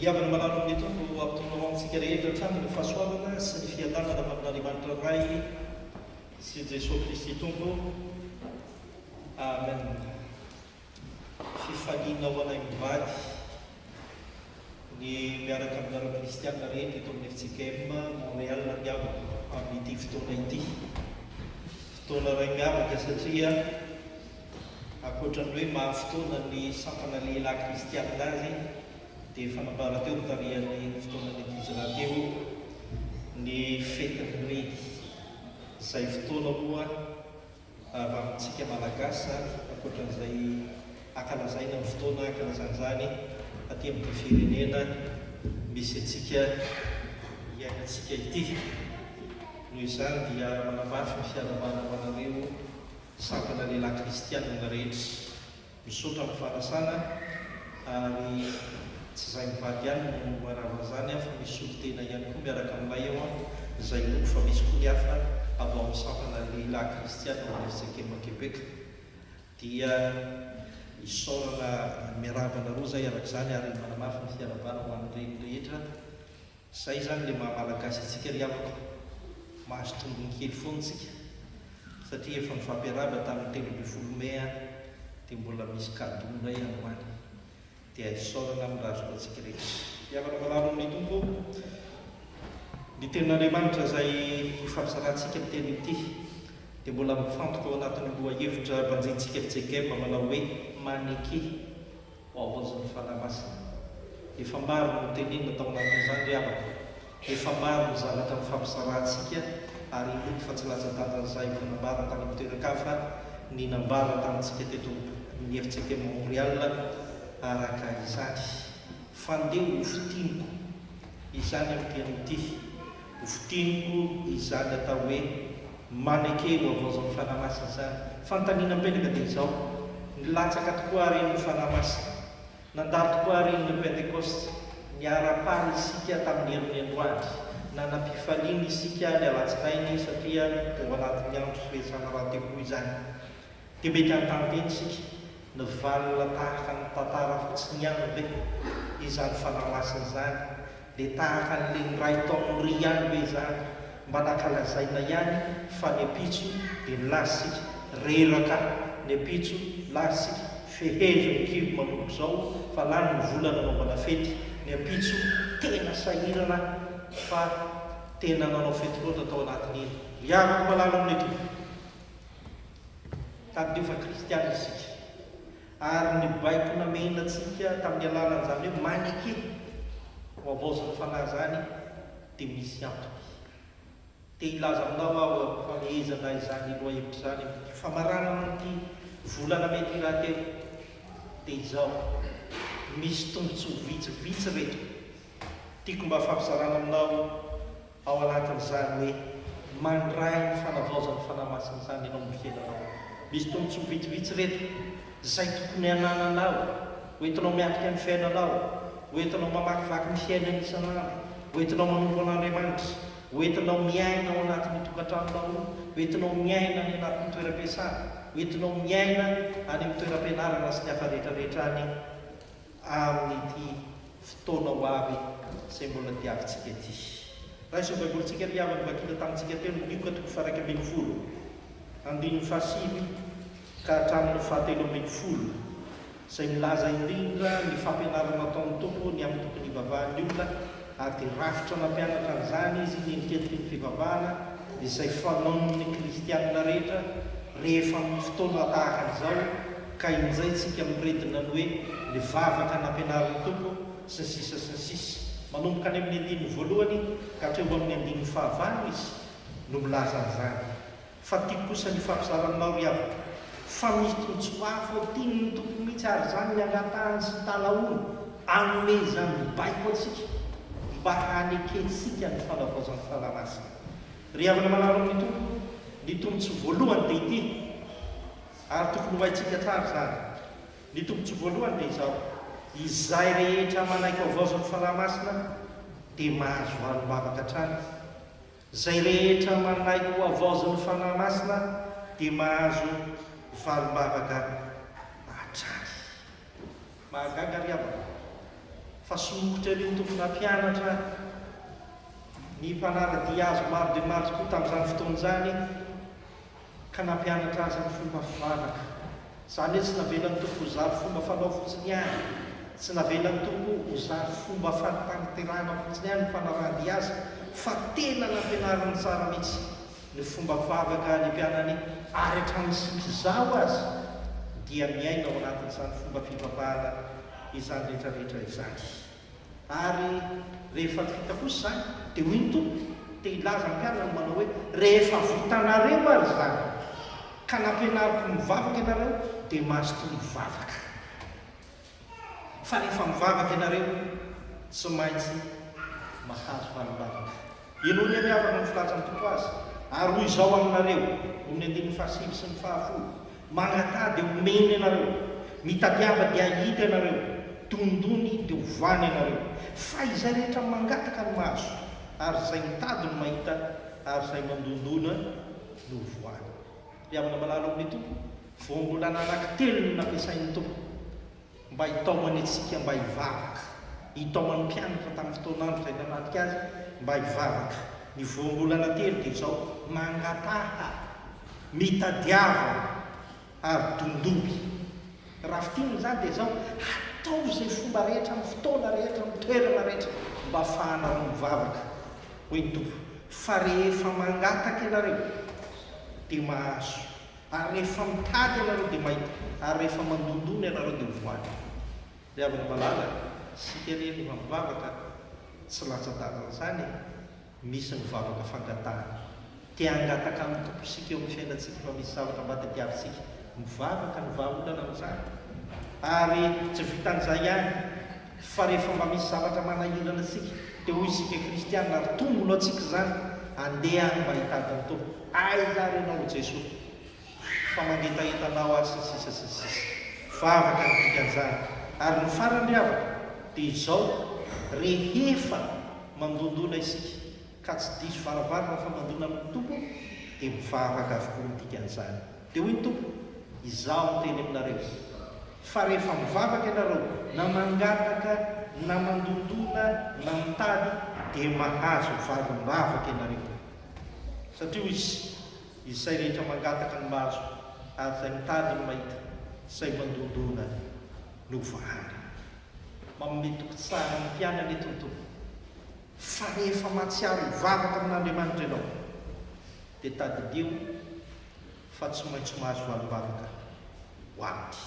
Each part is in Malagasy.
Ry havana malala o, ny Tompo hampitony ho amintsika rehetra hatrany ny fahasoavana sy ny fiadanana avy amin'Andriamanitra Ray sy Jesoa Kristy Tompo. Amen. Fifaliana ho anay mivady ny miaraka aminareo kristiana rehetra eto amin'ny FJKM Montréal ny havana amin'ity fotoana ity. Fotoana iray miavaka satria. Ankoatra ny hoe maro fotoana ny sampana lehilahy kristianina azy, dia efa nambara teo nitarihan'ny fotoanan'ny Hijra teo ny fetin'ny Reed. Izay fotoana moa raha amintsika Malagasy izany, ankoatran'izay ankalazaina ny fotoana hankalazana izany aty amin'ity firenena misy antsika iainantsika ity. Noho izany dia manamafy ny fiarahabana ho anareo Satana lehilahy kristianina rehetra misaotra amin'ny fanasana ary tsy izay mivady ihany no manarina izany an fa misy solontena ihany koa miaraka aminay ao an izay mino fa misy koa ny hafa avy ao amin'ny sampana lehilahy kristianina ao amin'ny FCKM Québec dia isaorana miarahaba anareo izay araka izany ary manamafy ny fiarabana ho an'ny reny rehetra Zay izany le maha malagasy antsika ry havako, mahazo tombony kely foana tsika satria efa nifampiarahaba tamin'ny telo ambin'ny folo mai an, dia mbola misy cadeau ndray androany, dia isaorana amin'ny raha azoko antsika rehetra. Hihavana marary amin'ny Tompo ô! Ny tenin'Andriamanitra izay ifampizarahantsika miteny ity dia mbola mifantoka ao anatin'ny lohahevitra banjintsika fijegem manao hoe maneke. Voaozon'ny Fanahy Masina. Efa maro no notenenina tao anatin'izany ry havako. Efa maro ny zavatra nifampisarahantsika ary inoako fa tsy latsa-danja izay efa nambara tany amin'ny toeran-kafa ny nambara tamintsika teto amin'ny RCT Montréal araka izany. Fandeho ho fintiniko izany amin'ity anio ity. Votiniko izany atao hoe maneke eo havaozan'ny Fanahy Masina izany. Fanontaniana mipetraka dia izao, Nilatsaka tokoa àry iny ny Fanahy Masina? Nandalo tokoa àry iny ny Pentekosta? Niara-paly isika tamin'ny herin'ny androany? Nanam-pifaliana isika ny alatsinainy satria tao anatin'ny andro firesahana rahateo koa izany? Dia mety hanontany tena isika, Nivalona tahaka ny tantara fotsiny ihany ve izany Fanahy Masina izany Dia tahaka an'ilay niray tao amin'ny ry ihany ve izany? Mba nankalazaina ihany fa ny ampitso dia nilatsika. Reraka ny ampitso, latsika, fehezo ny kibo manomboka izao fa lany ny vola nanaovana fety. Ny ampitso tena sahirana fa tena nanao fety loatra tao anatin'iny. Ry havako malala amin'Iay Tompo, tadidio fa kristiana isika. Ary ny baiko namehina antsika tamin'ny alalan'izany hoe maneke ho havaozin'ny Fanahy izany dia misy antony. Te hilaza aminao aho fa mihezaka izany lohahevitra izany aho. Ny famaranana amin'ity volana mey ity rahateo dia izao, misy tombontsoa vitsivitsy ireto tiako mba fampizarana aminao. Ao anatin'izany hoe mandray ny fanavaozan'ny Fanahy Masina izany ianao amin'ny fiainanao. Misy tombontsoa vitsivitsy ireto izay tokony hanananao, hoentinao miatrika ny fiainanao, hoentinao mamakivaky ny fiainana isan'andro, hoentinao manompo an'Andriamanitra, hoentinao miaina ao anatin'ny tokantranonao, hoentinao miaina any anatin'ny toeram-piasana, hoentinao miaina any amin'ny toeram-pianarana sy ny hafa rehetra rehetra any. amin'ity fotoana ho avy izay mbola diavintsika ity. Raisin'ny Baibolintsika ny havany vakina tamintsika teo ny Lioka toko faha-iraika ambin'ny folo, andininy fahasivy ka hatramin'ny fahatelo ambin'ny folo, izay milaza indrindra ny fampianarana nataon'ny Tompo ny amin'ny tokony hivavahan'ny olona ary dia rafitra nampianatra an'izany Izy ny endrikendriky ny fivavahana izay fanaon'ny kristiana rehetra rehefa amin'ny fotoana tahaka an'izao, Ka injay tsika miredona ny hoe le vavaka nampianarin'ny Tompo sy ny sisa sy ny sisa. Manomboka any amin'ny andininy voalohany ka hatreo amin'ny andininy fahavalo Izy no milaza an'izany. Fa tiako kosa ny hifampizara aminao ry havako fa misy tombontsoa mafy ao tian'ny Tompo mihitsy ary izany ny angatahany sy talahoany hanome izany mibaiko antsika mba hanekentsika ny fanavaozan'ny Fanahy Masina. Ry havana manaro amin'ny Tompo, ny tombontsoa voalohany dia ity. ary tokony ho haintsika hatrany izany. Ny tombontsoa voalohany dia izao, izay rehetra manaiky havaozan'ny Fanahy Masina dia mahazo ahy mivavaka hatrany. Izay rehetra manaiky ho havaozin'ny Fanahy Masina dia mahazo valim-bavaka hatrany. Mahagaga ry havana fa somokotra ery ny Tompo nampianatra ny mpanara-dia Azy maro dia maro tokoa tamin'izany fotoana izany. ka nampianatra azy ny fomba fivavaka. Izany hoe tsy navelan'ny Tompo ho zary fomba fanao fotsiny ihany, tsy navelan'ny Tompo ho zary fomba fanatanterahana fotsiny ihany ny fanarahan-dia Azy, fa tena nampianariny tsara mihitsy ny fomba fivavaka ny mpianany ary hatramin'ny tsy misy zaho aza dia miaina ao anatin'izany fomba fivavahana izany rehetra rehetra izany. Ary rehefa vita kosa izany, dia hoy ny Tompo, te hilaza ny mpianany manao hoe, Rehefa vitanareo ary izany, ka nampianariko ny mivavaka ianareo, dia mazotoa mivavaka. Fa rehefa mivavaka ianareo, tsy maintsy mahazo valim-bavaka. Henoy anie havana ny filatsan'ny Tompo azy, ary hoy izao aminareo, Amin'ny andininy fahasivy sy ny fahafolo, Magnataha dia homeny anareo, mitadiava dia hahita ianareo, dondony dia ho voany ianareo. Fa izay rehetra mangataka no mahazo, ary izay mitady no mahita, ary izay mandondona no ho voany. Ry havana malala ao amin'ny Tompo, vao mbola ananan-kitelo no nampiasain'ny Tompo. Mba hitaomany antsika mba hivavaka. Nitaoman'ny mpianatra tamin'ny fotoan'andro izay nanadika Azy mba hivavaka. Ny voambolana telo dia izao, Mangataha, mitadiava, ary dondomy. Raha fintinina izany dia izao, Atao izay fomba rehetra, amin'ny fotoana rehetra, amin'ny toerana rehetra, mba hafahanareo mivavaka, hoy ny Tompo, fa rehefa mangataka ianareo, dia mahazo, Ary rehefa mitady ianareo dia mahita, ary rehefa mandondona ianareo dia ho voan'ny foko. Ry havana malala, isika anie no hamivavaka, tsy latsa-dalana izany e! Misy ny vavaka fangatahana. Te hangataka amin'ny Tompo isika eo amin'ny fiainantsika fa misy zavatra mba tadiavintsika. Mivavaka ny vahaolana amin'izany. Ary tsy vitan'izay ihany, Fa rehefa mba misy zavatra manahirana antsika, dia hoy isika kristiana, ary tonga ho laontsika izany, Andeha any mba hitady ny Tompo. Aiza ary ianao, ry Jesoa, fa mangetaheta anao aho, sy ny sisa sy ny sisa. Vavaka ny dikan'izany. Ary ny farany, ry havana, dia izao, rehefa mandondona isika, ka tsy diso varavarana fa mandona amin'ny Tompo, dia mivavaka avokoa ny dikan'izany. Dia hoy ny Tompo, Izaho niteny aminareo izy, fa rehefa mivavaka ianareo, na mangataka, na mandondona, na mitady, dia mahazo valim-bavaka ianareo. Satria hoy Izy, Izay rehetra mangataka no mahazo, ary izay mitady no mahita, izay mandondona no voahangy. Manome toky tsara ny mpianany eto ny Tompo, fa rehefa mahatsiaro hivavaka amin'Andriamanitra ianao, dia tadidio fa tsy maintsy mahazo valim-bavaka ho aminy.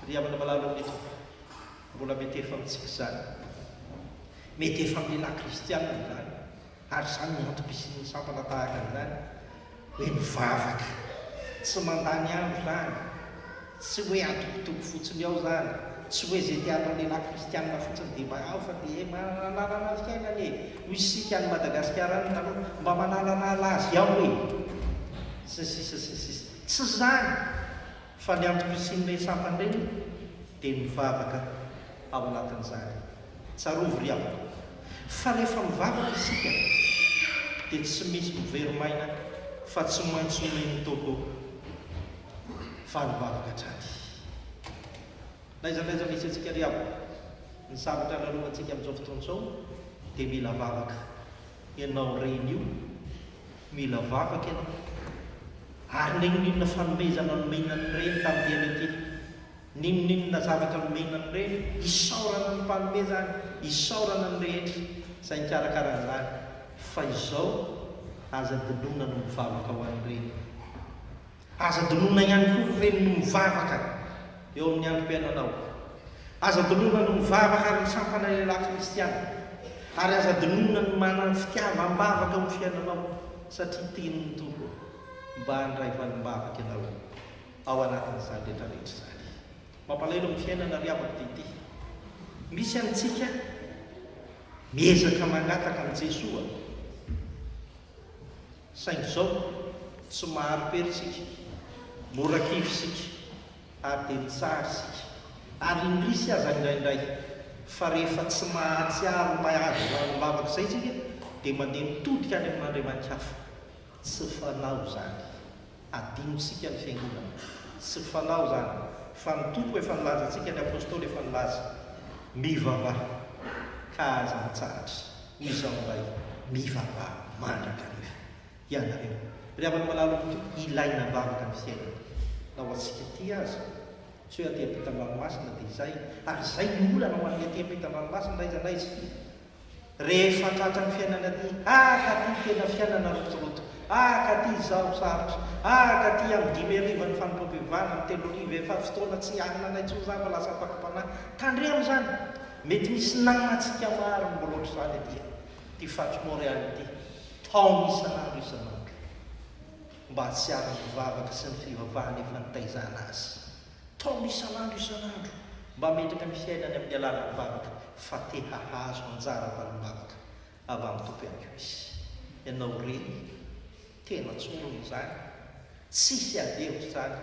Ry havana malala amin'ny Tompo, mbola mety efa amintsika izany. Mety efa amin'ny lehilahy kristianina izany, ary izany no antom-pisian'ny sampana tahaka an'izany, hoe mivavaka. Tsy mandany andro izany, Tsy hoe atokotoko fotsiny ao zany, tsy hoe ze te atao lehilahy kristianina fotsiny de mba ao fa de eh mananana fiainana e, hoy isika any Madagasikara any taloha, mba mananana lazy ao e, sy ny sisa sy ny sisa. Tsy zany fa ny antoko isian'ireny sampana ireny de mivavaka ao anatin'izany. Tsarovy ry havana fa rehefa mivavaka isika de tsy misy miverim'aina fa tsy maintsy omen'ny Tompo. Faly vavaka hatrany. Laizalaiza misy antsika ry havana. Ny zavatra lalovantsika amin'izao fotoana izao dia mila vavaka. Ianao reny io, mila vavaka ianao. Ary n'inon'inona fanomezana nomena an'i reny tamin'ity andro ity, n'inon'inona zavatra nomena an'i reny, isaorana ny mpanome izany, isaorana ny rehetra izay nikarakara an'izany. Fa izao, aza dinoina ny mivavaka ho an'i reny. Aza donona ihany koa ireny no mivavaka eo amin'ny androm-piainanao. Aza donona ny mivavaka ary ny sampana lehilahy kristiana. Ary aza donona ny manana fitiavam-bavaka eo amin'ny fiainanao, satria tenin'ny Tompo, Mba handray valim-bavaka ianao ao anatin'izany rehetrarehetra izany. Mampalahelo amin'ny fiainana ry havako dia ity. Misy amintsika miezaka mangataka an'i Jesoa. Saingy izao, tsy mahari-pery isika, mora kivy isika, ary dia mitsara isika. Ary indrisy aza indraindray, fa rehefa tsy mahatsiaro ilay azo lalim-bavaka izay isika, dia mandeha mitodika any amin'andriamani-kafa. Tsy fanao izany. Adinotsika ny fiangonana. Tsy fanao izany, fa ny Tompo efa nilaza antsika, ny Apostoly efa nilaza. Mivavaha, ka aza mitsahatra. Hoy izao indray, Mivavaha mandrakariva, ianareo, ry havana malala ny Tompo, ilaina am-bavaka ny fiainana. Na ho antsika aty aza, tsy hoe aty am-pitan-dranomasina, dia izay, ary izay no olana ho an'ny aty am-pitan-dranomasina na aiza na aiza. Rehefa tratran'ny fiainana aty, ah ka ty tena fiainana rotoroto, ah ka ty izaho sarotra, ah ka ty amin'ny dimy hariva ny fanompoam-pivavahana, amin'ny telo hariva efa fotoana tsy hianina anay intsony za fa lasa ampakam-panahy, tandremo izany! Mety misy namantsika maro no mbola ohatr'izany aty ty Fat Montréal ity, taona isan'andro isan'andro, mba hahatsiaro ny vavaka sy ny fivavahana efa nitaizana azy. Taom isan'andro isan'andro mba hametraka ny fiainany amin'ny alalan'ny vavaka fa te hahazo anjara valim-bavaka avy amin'ny Tompo ihany koa izy. Ianao re, tena tsorina izany, tsisy ady hevitra izany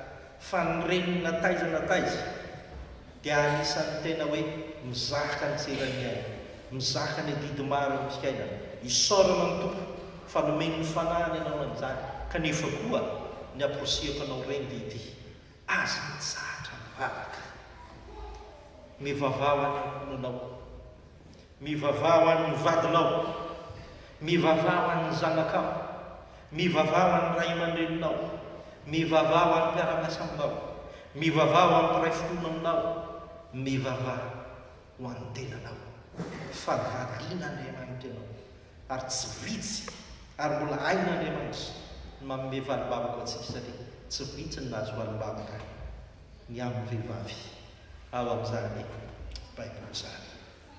fa ny reniny na taiza na taiza dia anisan'ny tena hoe mizaka ny tseran'ny ainy, mizaka ny adidy maro eo amin'ny fiainany. Isaorana ny Tompo fa nomeny ny fanahiny ianao amin'izany kanefa koa ny aporisiako anao reny dia ity, Aza mitsahatra mivavaka. Mivavaha ho an'ny ankohonanao. Mivavaha ho an'ny vadinao. Mivavaha ho an'ny zanakao. Mivavaha ho an'ny ray aman-dreninao. Mivavaha ho an'ny mpiara-miasa aminao. Mivavaha ho an'ny mpiray finoana aminao. Mivavaha ho an'ny tenanao. Fa valian'Andriamanitra ianao. Ary tsy vitsy, ary mbola hain'Andriamanitra ny manome valimbavaka ho antsika, satria tsy vitsy ny nahazo valimbavaka ny amin'ny vehivavy ao amin'izany Baiboly izany.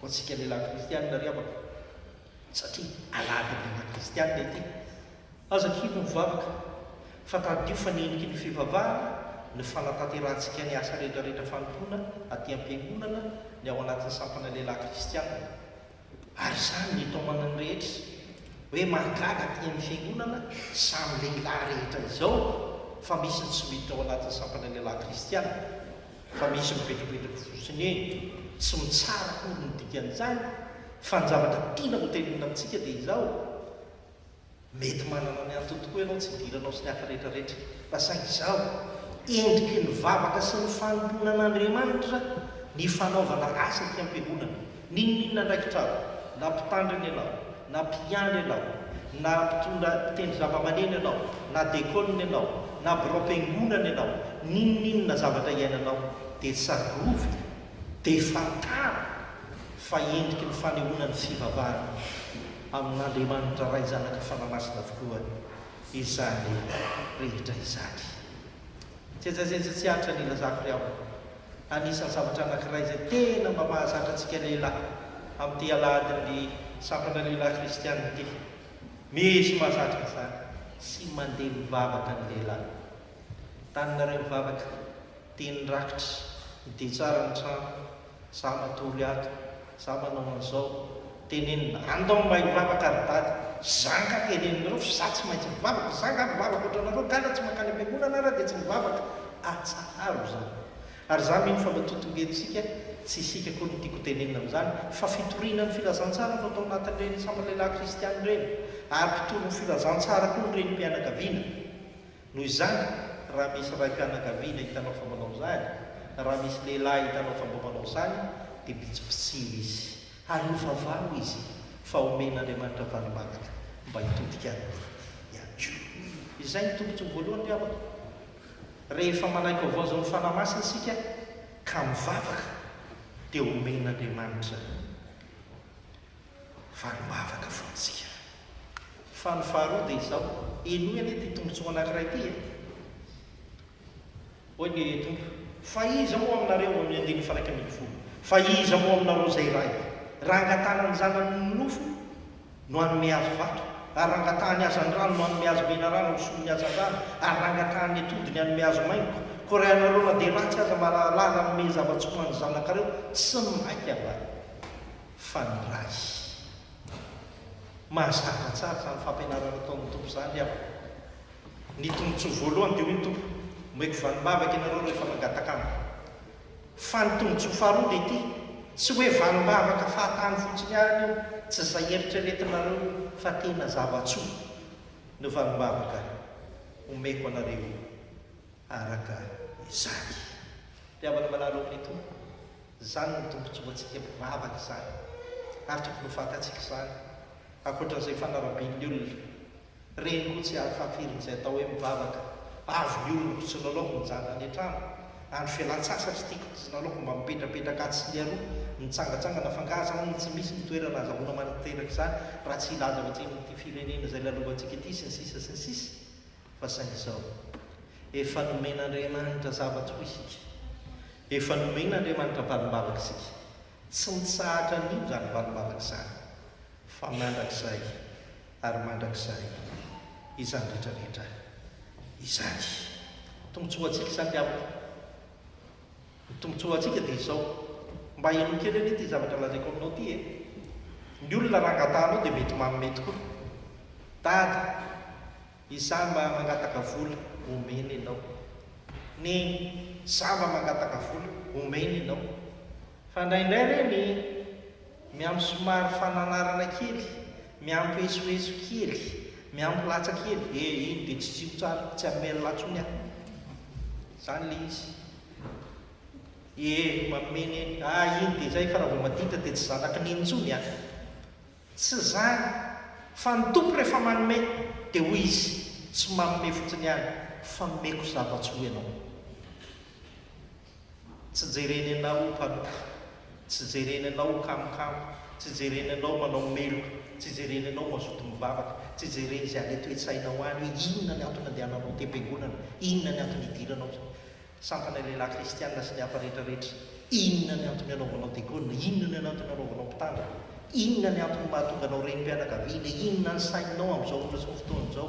Ho antsika lehilahy kristianina ry havako, satria alahady ny lehilahy kristianina ity, aza kivy mivavaka, fa tadidio fa ny endriky ny fivavahana, ny fanatanterahantsika ny asa rehetrarehetra fanompoana aty am-piangonana, ny ao anatin'ny sampana lehilahy kristianina. Ary izany no itaomana ny rehetra hoe mahagaga aty amin'ny fiangonana samy lehilahy rehetra izao fa misy ny tsy miditra ao anatin'ny sampan'ny lehilahy kristiana fa misy mivetrovetroky fotsiny eny tsy mitsara akory ny dikan'izany fa ny zavatra tiana hotenenina amintsika dia izao Mety manana ny antony tokoa ianao tsy hidiranao sy ny hafa rehetra rehetra. Fa saingy izao, endriky ny vavaka sy ny fanompoana an'Andriamanitra ny fanaovana asa aty am-piangonana. N'inon'inona andraikitra ao, na mpitandrina ianao, na mpiandry ianao, na mpitondra mpitendry zavamaneno ianao, na dekôna ianao, na biraom-piangonana ianao, n'inon'inona zavatra iainanao, dia tsarovy, dia fantaro fa endriky ny fanehoana ny fivavahana io. Amin'Andriamanitra Ray Zanaka Fanahy Masina avokoa izany rehetra izany. Jejazeja tsy antra ny ilazako ry havana, anisan'ny zavatra anankiray izay tena mba mahazatra antsika lehilahy amin'ity alahadin'ny sampana lehilahy kristiana ity. Misy mahazatra an'izany, tsy mandeha mivavaka ny lehilahy. Taninareo mivavaka, dia ny rakitra, ny dia tsara ny trano, Za matory ato, za manao an'izao, tenenina, andao mba hivavaka ry dada, zanga teneninareo fa za tsy maintsy mivavaka, za nga mivavaka otranareo nga ra tsy mankany am-piangonana ara de tsy mivavaka, atsaharo zany. Ary za mino fa mba totongentsika, tsy isika akory no tiako ho tenenina am'zany, fa fitoriana ny filazantsara no atao anatin'ireny sambalehilahy kristiana ireny, ary mpitory ny filazantsara koa ny renim-pianakaviana. Noho izany, raha misy raim-pianakaviana hitanao fa manao izany, na raha misy lehilahy hitanao fa mba manao izany, dia bitsibitsino izy. Ary ho vavaho izy, fa omen'Andriamanitra valimanaka mba hitodika aminy ihany koa. Izay no tombontsoa voalohany ry havana. Rehefa manaiky vaovao izao ny Fanahy Masina isika, ka mivavaka, dia omen'Andriamanitra izany. fa ny vavaka fotsika. Fa ny faharoa dia izao, henoy anie ity tombotsoa anankiray ity e! Hoy ny Tompo, Fa iza moa aminareo, amin'ny andininy faharaika ambin'ny folo, fa iza moa aminareo izay ray, raha angatahana ny zanany ny nofo, no hanome azy vato? ary raha angatahany hazandrano no hanome azy menarana ho solon'ny hazandrano? ary raha angatahany atody ny hanome azy maingoka? Koa raha ianareo na dia ratsy aza, marahalahy, raha hanome zava-tsoa ho an'ny zanakareo, tsy maika va? fa ny Ray. Mahazatra tsara izany fampianarana ataon'ny Tompo izany aho. Ny tombotsoa voalohany dia hoy ny Tompo, Omeko vanim-bavaka ianareo rehefa mangataka Amiko. Fa ny tombotsoa faharoa dia ity, tsy hoe vanim-bavaka fahatany fotsiny ihany io, tsy izay eritreretinareo io, fa tena zava-tsoa no vanim-bavaka omeko anareo araka izany. Ry havana manaraka ny Tompo. Izany no tombontsoantsika mpivavaka izany ary tokony ho fantatsika izany ankoatran'izay fanarabian'ny olona. Reny koa tsy ahafahafirin'izay atao hoe mivavaka, avy ny olona tsy nalaoko nijano any an-trano, andro fialan-tsasatry tiako tsy nalaoko mba mipetrapetraka atsy sy ny aroa, mitsangatsangana fa angaha izany no tsy misy ny toerana azahoana mananteraka izany raha tsy hilaza ao atsimon'ity firenena izay lalovantsika ity sy ny sisa sy ny sisa. Fa saingy izao, efa nomen'Andriamanitra zavatra ho isika. Efa nomen'Andriamanitra valim-bavaka isika. Tsy mitsahatra anio izany valim-bavaka izany, fa mandrakizay ary mandrakizay izany rehetrarehetra izany. Tombontsoa ho antsika izany, dia amiko. Ny tombontsoa ho antsika dia izao, mba henoy kely anie ity zavatra lazaiko aminao ity e! Ny olona raha angataha anao dia mety manome tokoa. Dada, izaho mba mangataka vola, omena ianao. Neny, izaho mba mangataka vola, omena ianao. Fa indraindray re ny miampy somary fananarana kely, miampy esoeso kely, miampy latsa kely, eh iny dia tsy tsilo tsara, tsy hamela latsony aho. Izany ilay izy. Ee, mameno eny. Ah iny dia izay fa raha vao maditra dia tsy zanaky ny iny intsony an! Tsy izany, fa ny Tompo rehefa manome dia hoy Izy, tsy manome fotsiny ihany fa omeko zava-tsy ho ianao. Tsy jereny anao ho mpanompy, tsy jereny anao ho kamokamo, tsy jereny anao manao meloka, tsy jereny anao mazoto mivavaka, tsy jereny izay any an-toetsainao any hoe inona ny antony andehananao am-piangonana, inona ny antony hidiranao izany. Sampana ny lehilahy kristiana sy ny hafa rehetra rehetra. Inona ny antony anaovanao diakona? Inona ny antony anaovanao mpitandro? Inona ny antony mahatonga anao renim-pianakaviana? Inona ny sainao amin'izao ora sy ny fotoana izao?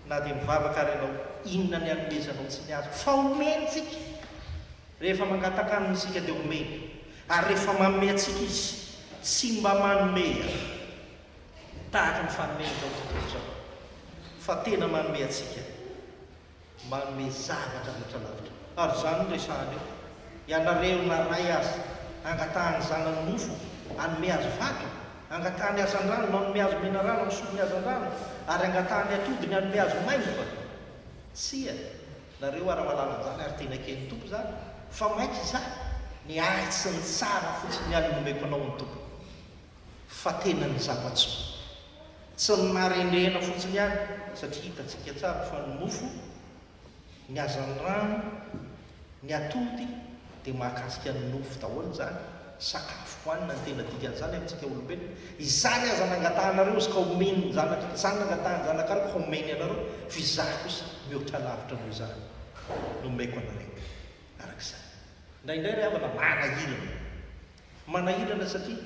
Na dia mivavaka ary ianao, inona ny hanomezanao tsy ny azo? Fa omeny isika! Rehefa mangataka Aminy isika dia omeny, ary rehefa manome antsika Izy, tsy mba manome tahaka ny fanome amin'izao tontolo izao, fa tena manome antsika. manome zavatra rehetra lavitra. Ary izany no resahana eo. Ianareo na ray aza, angatahany zanany nofo, hanome azy vato, angatahany hazandrano, manome azy menarana misolo ny hazandrano, ary angatahany atody ny hanome azy maimbo va? Tsia, nareo ary mahalala an'izany, ary tena eken'ny Tompo izany, fa mainka izaho, ny ahy sy ny tsara fotsiny ihany no omeko anao ny Tompo, fa tena ny zava-tsoa. Tsy ny marendrehana fotsiny àry, satria hitantsika tsara fa ny nofo, ny hazan'ny rano, ny atody dia mahakasika ny nofo daholo izany, sakafo hohanina ny tena dikan'izany amintsika olombelona. Izany aza nangatahanareo izy ka omeny ny zanaka, izany nangatahany zanaka ahy ka omeny anareo, fa izaho kosa mihoatra lavitra noho izany no omeko anareo. Araka izany. Indraindray ry havana, manahirana. Manahirana satria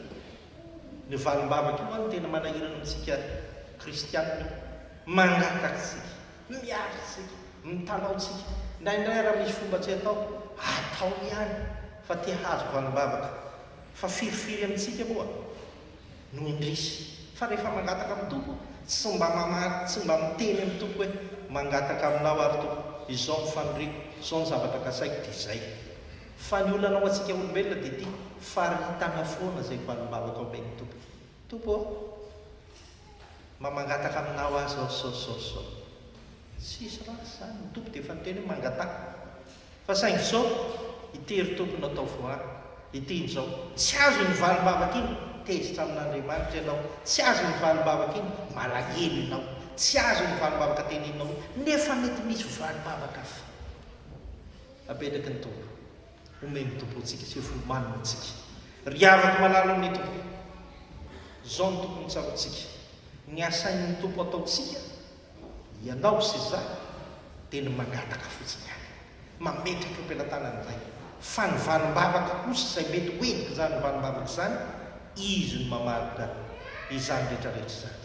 ny valim-bavaka io no tena manahirana antsika kristianina io. Mangataka isika, miary isika, mitalaho isika. Indraindray raha misy fomba tsy atao, atao ihany fa te hahazo valim-bavaka. Fa firifiry amintsika moa no indrisy fa rehefa mangataka amin'ny Tompo tsy mba mamaly, tsy mba miteny amin'ny Tompo hoe mangataka aminao aho ry Tompo, izao ny faniriako, izao ny zavatra kasaiko dia izay. Fa ny olana ho antsika olombelona dia ity, faritana foana izay valim-bahoka omen'ny Tompo. Tompo ô! Mba mangataka Aminao aho izao sao sao sao. Tsisy ratsy izany, ny Tompo dia efa niteny hoe mangataka. Fa saingy sao ity ry Tompo no ataovy ho ahy, ity injao. Tsy azo iny valim-bavaka iny, tezitra amin'Andriamanitra ianao. Tsy azo iny valim-bavaka iny, malahelo ianao. Tsy azo iny valim-bavaka teneninao iny, nefa mety misy valim-bavaka hafa. Apetraky ny Tompo. Omen'ny Tompo antsika sy hofomaniny antsika. Ry havako malala amin'ny Tompo. Izao no tokony tsaroantsika. Ny asain'ny Tompo ataontsika, ianao sy izaho, dia ny mangataka fotsiny ihany. Mametraka eo am-pelatanany indray. Fa ny valim-bavaka kosa izay mety ho endrik'izany valim-bavaka izany, Izy no mamaritra izany rehetrarehetra izany.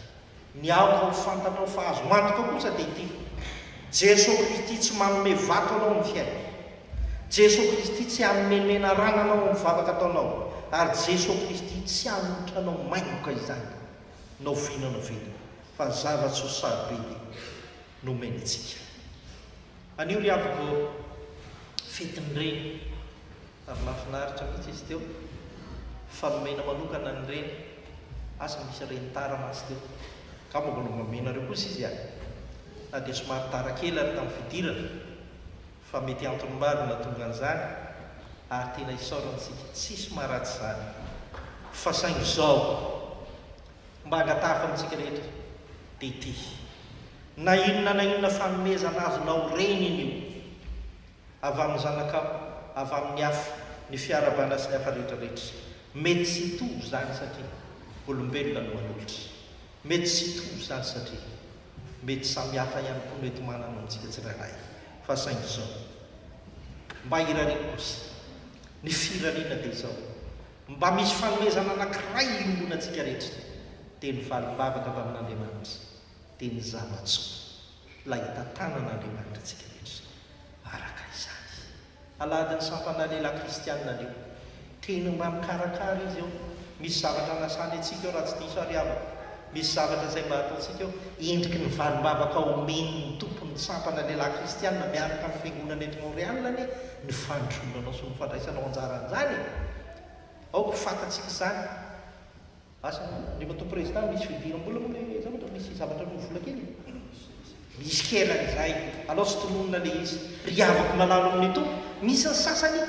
Ny aoka ho fantatrao fa azonao antoka kosa dia ity, Jeso Kristy tsy manome vato anao amin'ny fiainana. Jeso Kristy tsy hanome menarana anao amin'ny vavaka ataonao, ary Jeso Kristy tsy hanohitra anao maingoka izany na oviana na oviana, fa ny zava-tsoa sarobidy no omeny antsika. Anio ry havako fetin'ny reny. Ary mahafinaritra mihitsy izy teo. Fa nomena manokana ny reny. Asa misy reny tara mantsy teo. Ka mba mbola omenareo kosa izy a! Na dia somary tara kely ary tamin'ny fidirana. Fa mety antony maro no nahatonga an'izany ary tena isaorantsika tsisy maharatsy izany. Fa saingy izao. Mba angatahiko amintsika rehetra dia ity. Na inona na inona fanomezana azonao reny iny io. avy amin'ny zanakao, avy amin'ny afo, ny fiarahabana sy ny hafa rehetra rehetra. Mety tsy hitovy izany satria olombelona no manolotra. Mety tsy hitovy izany satria mety samy hafa ihany koa no mety manana ao amintsika tsirairay. Fa saingy izao. Mba hirariana kosa. Ny firariana dia izao. Mba misy fanomezana anankiray iombonantsika rehetra. Dia ny valim-bavaka avy amin'Andriamanitra. Dia ny zava-tsoa. Ilay hitantanana an'ireo mpanorintsika rehetra izao. Araka izany. Alahady ny sampana lehilahy kristianina aleo. Teny mba mikarakara izy eo. Misy zavatra anasany antsika eo raha tsy diso aho ry havako. Misy zavatra izay mba hataontsika eo. Endriky ny valim-bavaka omen'ny Tompo ny sampana lehilahy kristianina miaraka amin'ny fiangonana eto Montréal anie ny fandrosoanao sy ny fandraisanao anjara an'izany e. Aoka ho fantatsika izany. Asa rehefa to prezida misy fidiram bola moa le zavatra misy zavatra no vola kely e. Misy kela izay, alao tsy tononina le izy. Ry havako malalo amin'ny Tompo, misy ny sasany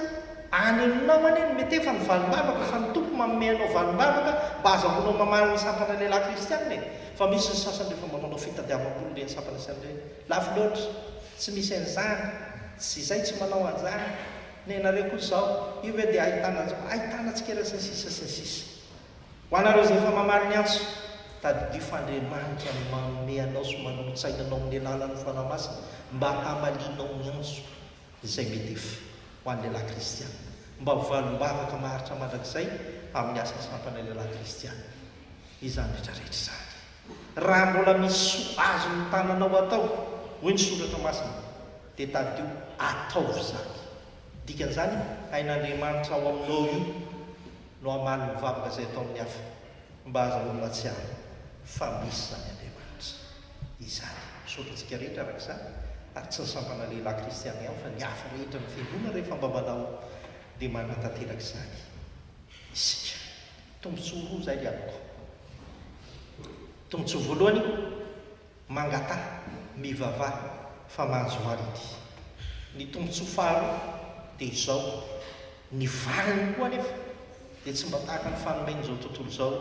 any aminao any no mety efa nivalom-bavaka fa ny Tompo manome anao valom-bavaka mba azahoanao mamaly ny sampana lehilahy kristiana e! Fa misy ny sasany rehefa mba manao fitadiavam-bola ireny sampana sy an'ireny, lafo loatra, tsy misy an'izany, tsy izay tsy manao an'izany, nenareo koa izao, io ve dia ahitana an'izao, ahitana tsikera sy ny sisa sy ny sisa. Ho anareo izay efa mamaly ny antso, tadidio fa Andriamanitra no manome anao sy manolo-tsaina anao amin'ny alalan'ny Fanahy Masina mba hamalianao ny antso izay Medef ho an'ny lehilahy kristiana, mba ho valim-bavaka maharitra mandrakizay amin'ny asa sampanay lehilahy kristiana. Izany rehetra rehetra izany, raha mbola misy soa azon'ny tananao atao, hoy ny Soratra Masina, dia tadidio ataovy izany. Dikan'izany, hain'Andriamanitra ao aminao io. no hamaly ny vavaka izay atao amin'ny hafa mba azahoany mahatsiaro fa misy izany Andriamanitra izany. Misaotra antsika rehetra araka izany ary tsy ny sampana lehilahy kristiana ihany fa ny hafa rehetra ny fiangonana rehefa mba manao dia manatanteraka izany isika. Tombotsoa roa izay ry amiko. Tombotsoa voalohany. Mangataha, mivavaha fa manjo manity. Ny tombotsoa faharoa dia izao, ny valiny koa anefa dia tsy mba tahaka ny fanomen'izao tontolo izao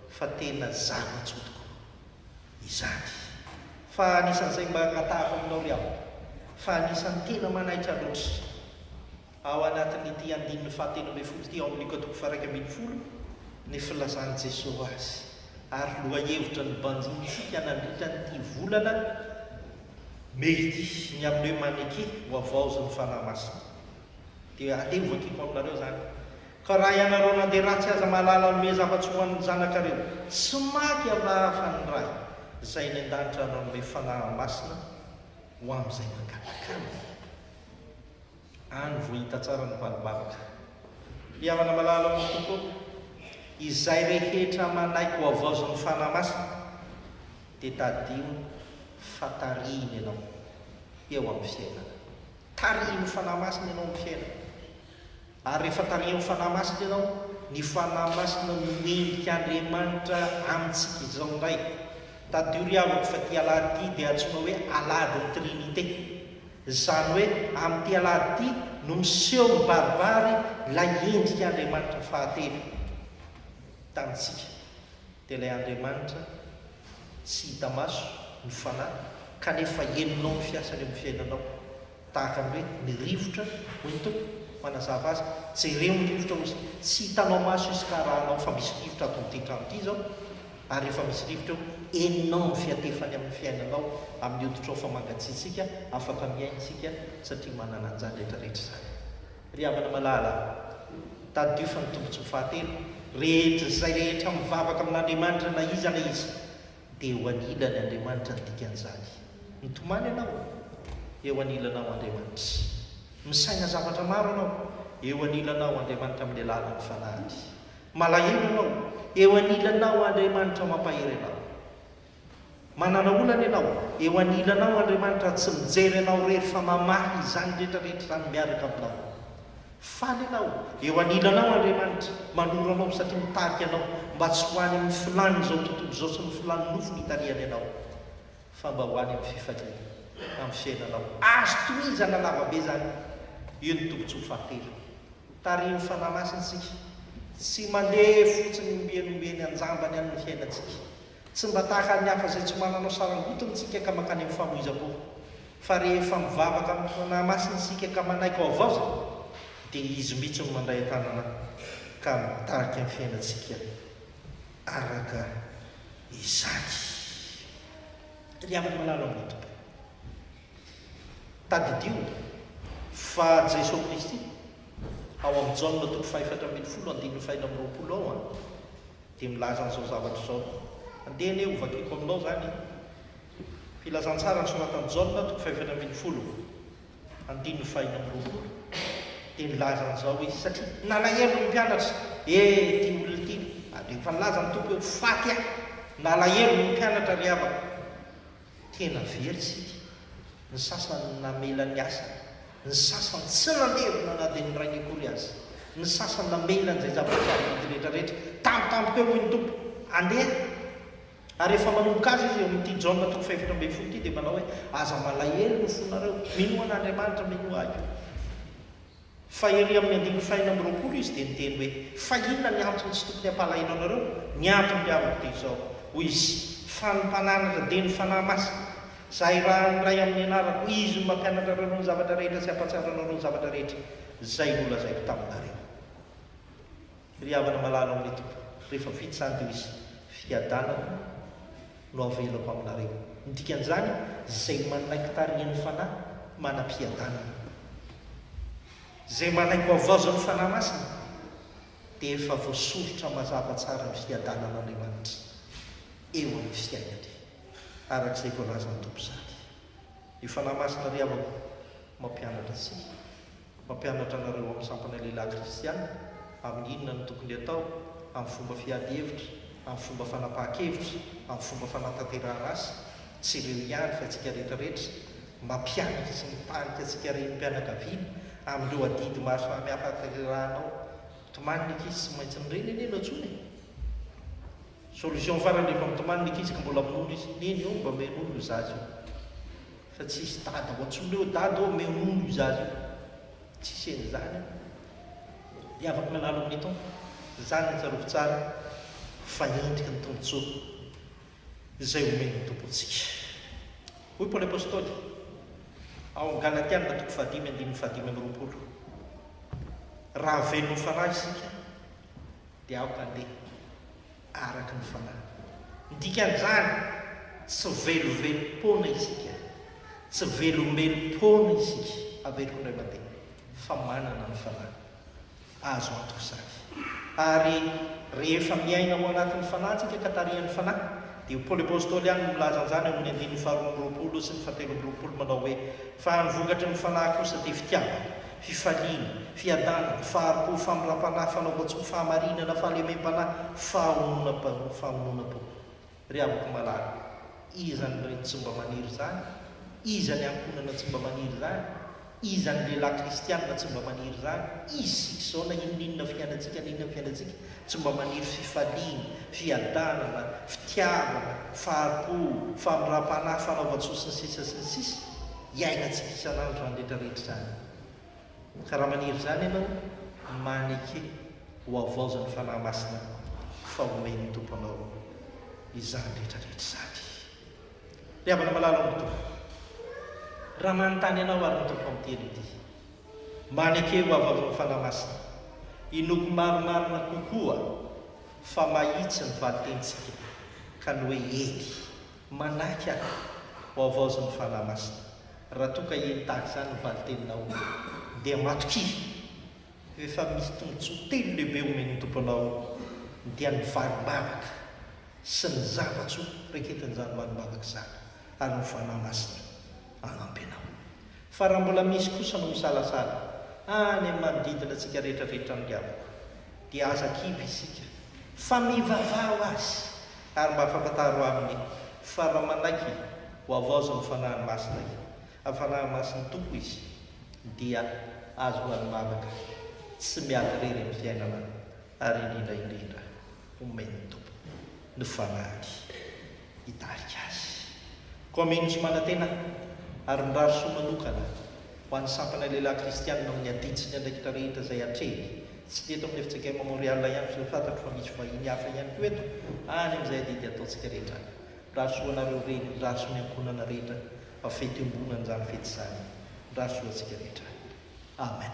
fa tena zava-tsoa tokoa izany. Fa anisan'izay mba angatahako aminao ry havana fa anisan'ny tena manaitra loatra. Ao anatin'ity andininy fahatelo ambin'ny folo ity ao amin'ny katoboko faha-iraika ambin'ny folo ny filazan'i Jesoa azy ary lohahevitra nobanjinintsika nandritran'ity volana mey ity ny amin'ny hoe maneke ho havaozin'ny Fanahy Masina. Dia aleo hovakiko aminareo izany. Ka raha ianareo nandeha ratsy aza mahalala hanome zava-tsoa ho an'ny zanakareo. Tsy maty Allah afa ny Ray izay eny an-danitra hanome Fanahy Masina ho amin'izay mangataka Aminy. Any vao hita tsara ny valom-bavaka. Mpihavana malala amiko tokoa, izay rehetra manaiky ho havaozan'ny Fanahy Masina, dia tadidio fa tarihiny ianao eo amin'ny fiainana. Tarihin'ny Fanahy Masina ianao amin'ny fiainana. Ary rehefa tarihin'ny Fanahy Masina ianao, ny Fanahy Masina no endrik' Andriamanitra amintsika izao indray. Tadidio ry havako fa ity Alahady ity dia antsoina hoe Alahadin'ny Trinite. Izany hoe amin'ity alahady ity no miseho mibaribary ilay endrik'Andriamanitra fahatelo tamintsika. Dia ilay Andriamanitra tsy hita maso no Fanahy kanefa henonao ny fiasany eo amin'ny fiainanao. Tahaka ny hoe ny rivotra, hoy ny Tompo, manazava azy, jereo ny rivotra hoy Izy. Tsy hitanao maso izy ka arahanao fa misy rivotra ato amin'ity trano ity izao. ary rehefa misy rivotra eo, henonao ny fihatefany amin'ny fiainanao, amin'ny hoditrao fa mangatsiatsiaka, afaka mihaino isika satria manana an'izany rehetrarehetra izany. Ry havana malala, tadidio fa ny tombontsoa fahatelo rehetr'izay rehetra mivavaka amin'Andriamanitra na iza na iza dia eo anilany Andriamanitra ny dikan'izany. Mitomany ianao, eo anilanao Andriamanitra. Misaina zavatra maro ianao, eo anilanao Andriamanitra amin'ny alalan'ny Fanahiny. Malahelo ianao, eo anilanao Andriamanitra mampahery anao. Manana olana ianao, eo anilanao Andriamanitra tsy mijery anao irery fa mamaha izany rehetra rehetra izany miaraka aminao. Faly ianao, eo anilanao Andriamanitra manoro anao satria mitarika anao mba tsy ho any amin'ny filàn'izao tontolo izao sy ny filàn'ny nofony itarihany anao. fa mba ho any amin'ny fifaliana amin'ny fiainanao. Azo tohizana lavabe izany. Io ny tombontsoa fahatelo. Tarihin'ny Fanahy Masina isika. Tsy mandeha fotsiny ombieny ombieny an-jambany any ny fiainantsika. Tsy mba tahaka an'ny hafa izay tsy mananao sarangotiny isika ka mankany amin'ny famoizam-po. Fa rehefa mivavaka amin'ny Fanahy Masina isika ka manaiky ao havaozina, dia Izy mihitsy no mandray an-tanana ka mitarika ny fiainantsika. Araka izany, ry havana malala ao amin'ny Tompo, tadidio fa Jeso Kristy, ao amin'ny Jaona toko fahefatra ambin'ny folo andininy fahenina amby roapolo ao, dia milaza an'izao zavatra izao, andeha anie hovakiko aminao izany filazantsara nosoratan'i Jaona toko fahefatra ambin'ny folo. Andininy fahiny amby roapolo dia nilaza an'izao izy, satria nalahelo ny mpianatra. He, ity olona ity! Ary efa nilaza ny Tompo hoe, Faty aho! Nalahelo ny mpianatra, ry havako. Tena very isika. Ny sasany namela ny asany. Ny sasany tsy nandevo na dia ny rainy akory aza. Ny sasany namela an'izay zava-misy azy mety rehetrarehetra. Tampotampoka eo hoy ny Tompo, Andeha! Ary rehefa manomboka azy izy eo amin'ity Jaona toko fahefatra ambin'ny folo ity dia manao hoe, Aza malahelo ny fonareo, minoa an'Andriamanitra, minoa Ahy koa. Fa ery amin'ny andininy fahenina amby roapolo izy dia niteny hoe, Fa inona ny antony tsy tokony hampalahelo anareo? Ny antony ry havako dia izao, hoy izy, fa ny mpananatra dia ny Fanahy Masina, izay irahan'ny Ray amin'ny anarako, Izy no mampianatra anareo ny zavatra rehetra sy hampahatsiaro anareo ny zavatra rehetra izay nolazaiko taminareo. Ry havana malala ao amin'ny Tompo, rehefa vita izany dia misy fiadanana no avelako aminareo. Ny dikan'izany, izay manaiky tarihin'ny Fanahy manam-piadanana. Izay manaiky hohavaozan'ny Fanahy Masina dia efa voasoritra mazava tsara ny fiadanan'Andriamanitra eo amin'ny fiainany, araka izay voalazan'ny Tompo izany. Ny Fanahy Masina ry havako mampianatra antsika. Mampianatra anareo amin'ny sampana lehilahy kristiana amin'ny inona no tokony atao, amin'ny fomba fiady hevitra, amin'ny fomba fanapahan-kevitra, amin'ny fomba fanatanterahana asa, tsy ireo ihany fa antsika rehetra rehetra, mampianatra sy mitarika antsika renim-pianakaviana amin'ireo adidy maro samihafa atanterahanao, tomany ny ankizy tsy maintsy mireny anie no antsoina e! Solution farany efa mitomany ny ankizy ka mbola minono izy neny io mba me nono io zaza io fa tsy hisy dada ho antsoina eo dada ô me nono io zaza io tsisy an'izany io dia afaka mianalo amin'ny Tompo izany no tsarovy tsara fa endriky ny tombotsoa izay omen'ny Tompo antsika hoy Paoly Apostoly ao Galatiana toko fahadimy andininy fahadimy amby roapolo raha velon'ny fanahy isika dia aoka handeha araka ny fanahy. Ny dikan'izany, tsy velovelom-poana isika, tsy velombelom-poana isika, averiko indray mandeha, fa manana ny fanahy. Azo antoka izany. Ary rehefa miaina ao anatin'ny fanahy isika ka tarihan'ny fanahy, dia i Paoly Apostoly ihany no milaza an'izany ao amin'ny andininy faharoa amby roapolo sy ny fahatelo amby roapolo manao hoe, Fa ny vokatry ny fanahy kosa dia fitiavana, fifaliana, fiadanana, fahari-po, famindram-panahy, fanaovan-tsoa, fahamarinana, fahalemem-panahy, fahononan-po, fahononan-po. Ry havako malala, iza ny reny tsy mba maniry izany? Iza ny ankohonana tsy mba maniry izany? Iza ny lehilahy kristianina tsy mba maniry izany? Isika izao, na inoninona fiainantsika, na inona ny fiainantsika, tsy mba maniry fifaliana, fiadanana, fitiavana, fahari-po, famindram-panahy, fanaovan-tsoa, sy ny sisa sy ny sisa. Iainantsika isan'andro izany rehetra rehetra izany. Ka raha maniry izany ianao, maneke ho havaoza ny Fanahy Masina fa homen'ny Tompo anao izany rehetra rehetra izany. Ry havana malala ao amin'ny Tompo, raha manontany anao ary ny Tompo amin'ny teny ity, maneke ho havaozan'ny Fanahy Masina, inoako marimarina kokoa fa mahitsy ny valin-tenintsika ka ny hoe eny. Manaiky aho ho havaozin'ny Fanahy Masina. Raha toa ka heno tahaka izany ny valin-teninao, dia matokia. Rehefa misy tombontsoa telo lehibe omen'ny Tompo anao, dia ny valim-bavaka sy ny zava-tsoa raiketin'izany valim-bavaka izany, ary ny Fanahy Masina hanampy anao. Fa raha mbola misy kosa no misalasala any amin'ny manodidina antsika rehetra ve tranga amiko dia aza kivy isika fa mivavaha ho azy ary mba afantantaro aminy fa raha manaiky ho havaozin'ny Fanahy Masina i amin'ny Fanahy Masin'ny Tompo izy dia azy ho an'ny vavaka tsy miady irery amin'ny fiainana ary indrindra indrindra omen'ny Tompo ny Fanahiny. hitarika azy. Kwame Nusmanatena ary mirary soa manokana ho an'ny sampana lehilahy kristianina amin'ny adidy sy ny andraikitra rehetra izay atrehiny. Tsy ny eto amin'ny FCKM Montreal ihany fa fantatro fa misy vahiny hafa ihany koa eto any amin'izay adidy ataontsika rehetra. Mirary soa anareo reny, mirary soa ny ankohonana rehetra fa fety iombonan'izany fety izany. Mirary soa antsika rehetra. Amen.